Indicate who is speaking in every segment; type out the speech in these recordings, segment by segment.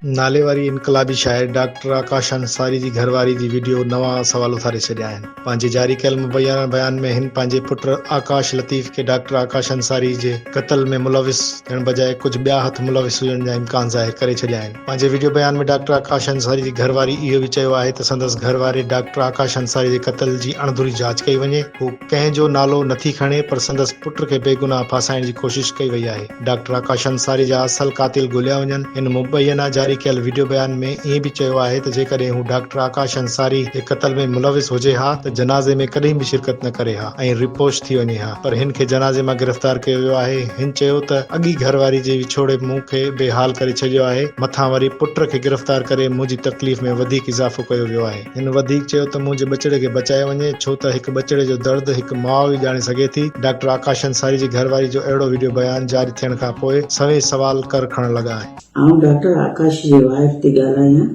Speaker 1: ناليواري انقلابي شاعر ڊاڪٽر آڪاش انصاري جي گهرواري جي وڊيو نوان سوال اٿاري ڇڏيا آهن. پنهنجي جاري ڪيل مبينا بيان ۾ هن پنهنجي پٽ آڪاش لطيف کي ڊاڪٽر آڪاش انصاري جي قتل ۾ ملوث ٿيڻ بجاء ڪجهه ٻيا هٿ ملوث هجڻ جا امڪان ظاهر ڪري ڇڏيا آهن. پنهنجي وڊيو بيان ۾ ڊاڪٽر آڪاش انصاري جي گهرواري اهو به چيو آهي ته سندس گهرواري ڊاڪٽر آڪاش انصاري جي قتل جي اڻڌري جاچ ڪئي وڃي. هو. ڪنهن جو نالو نه ٿي کڻي پر سندس پٽ کي بيگناهه ڦاسائڻ جي ڪوشش ڪئي وئي آهي. ڊاڪٽر آڪاش انصاري جا اصل قاتل ڳوليا وڃن. هن مبينا جاري ڪيل وڊيو بيان ۾ ائين به چيو آهي ته جيڪڏهن هو ڊاڪٽر آڪاش انصاري جي قتل ۾ ملوث هجي ها ته جنازي ۾ ڪڏهن به شرڪت نه ڪري ها ۽ رپوش ٿي وڃي ها پر هن کي جنازي مان گرفتار ڪيو ويو آهي هن چيو ته اڳي گهرواري جي وڇوڙي مون کي بي حال ڪري ڇڏيو آهي مٿان وري پٽ کي گرفتار ڪري منهنجي تڪليف ۾ وڌيڪ اضافو ڪيو ويو آهي. هن وڌيڪ چيو ته منهنجي ٻچڙي کي بچايو وڃي ڇو ته هڪ ٻچڙي جو درد هڪ ماء ئي ڄاڻي سگهي ٿي، ڊاڪٽر آڪاش انصاري جي گهر واري جو اهڙو وڊيو بيان جاري ٿيڻ کان پوء سوين سوال ڪر کڻڻ لڳا آهن. آئون ڊاڪٽر آڪاش جي
Speaker 2: وائف ٿي ڳالهايان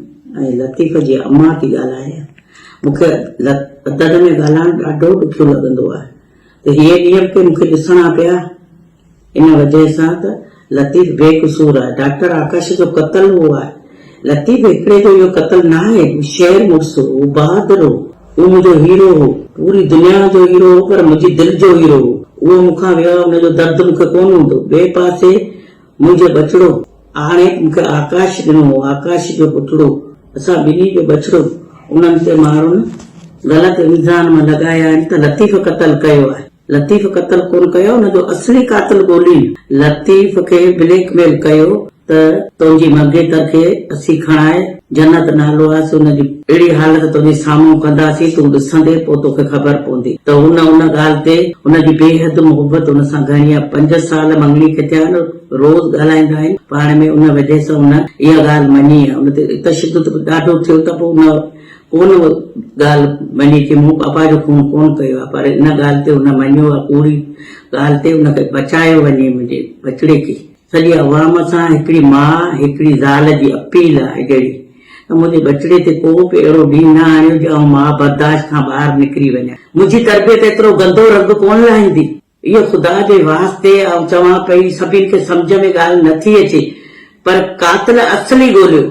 Speaker 2: ۽ لطيف جي امان ٿي ڳالهايان، مون کي ادب ۾ ڳالهائڻ ڏاڍو ڏکيو لڳندو آهي، ته هيء نيب کي مون کي ڏسڻا پيا. ان وجهه سان ته لطيف بي قصور آهي. ڊاڪٽر آڪاش جو قتل هو آهي. لطيف هڪڙي جو اهو قتل ناهي. هو شير مڙس هو. هو بهادر هو. هو منهنجو هيرو هو. پوري دنيا جو هيرو هو پر منهنجي دل جو هيرو هو. اهو مون کان ويو آهي ان جو درد مون کي ڪونه هوندو. ٻئي پاسي. منهنجو ٻچڙو، آڻي مون کي آڪاش ڏنو هو، آڪاش جو پٽڙو، اسان ٻنهي جو ٻچڙو، انهن تي ماڻهن غلط الزام لڳايا آهن ته لطيف قتل ڪيو آهي، لطيف قتل ڪونه ڪيو آهي، ان جو اصلي قاتل ڳولين، لطيف کي بليڪ ميل ڪيو ته تنهنجي منگيتر کي اسين کڻائي. جنت نالو آهي سو ان جي اهڙي حالت تنهنجي سامهون ڪنداسين تون ڏسندين پوء توکي خبر پوندي ته هن ان ڳالهه تي هن جي بيحد محبت هن سان گهڻي آهي پنج سال مڱڻي کي ٿيا آهن روز ڳالهائيندا آهن پاڻ ۾ ان وجهه سان هن اها ڳالهه مڃي آهي ان تي تشدد به ڏاڍو ٿيو ته پوء هن ڪونه اها ڳالهه مڃي ڪي مون پاپا جو خون ڪونه ڪيو آهي پر ان ڳالهه تي هن مڃيو آهي ڪوڙي ڳالهه تي هن کي بچايو وڃي منهنجي ٻچڙي کي سڄي عوام سان هڪڙي ماء هڪڙي زال جي اپيل آهي جهڙي ته منهنجي ٻچڙي تي ڪو به اهڙو ڏينهن نه آڻيو جو آئون ماء برداشت کان ٻاهر نڪري وڃان منهنجي تربيت ايترو گندو رنگ ڪونه لاهيندي اهو خدا جي واسطي آئون چوان پئي سڀني کي سمجهه ۾ ڳالهه نه ٿي اچي پر قاتل اصلي ڳوليو.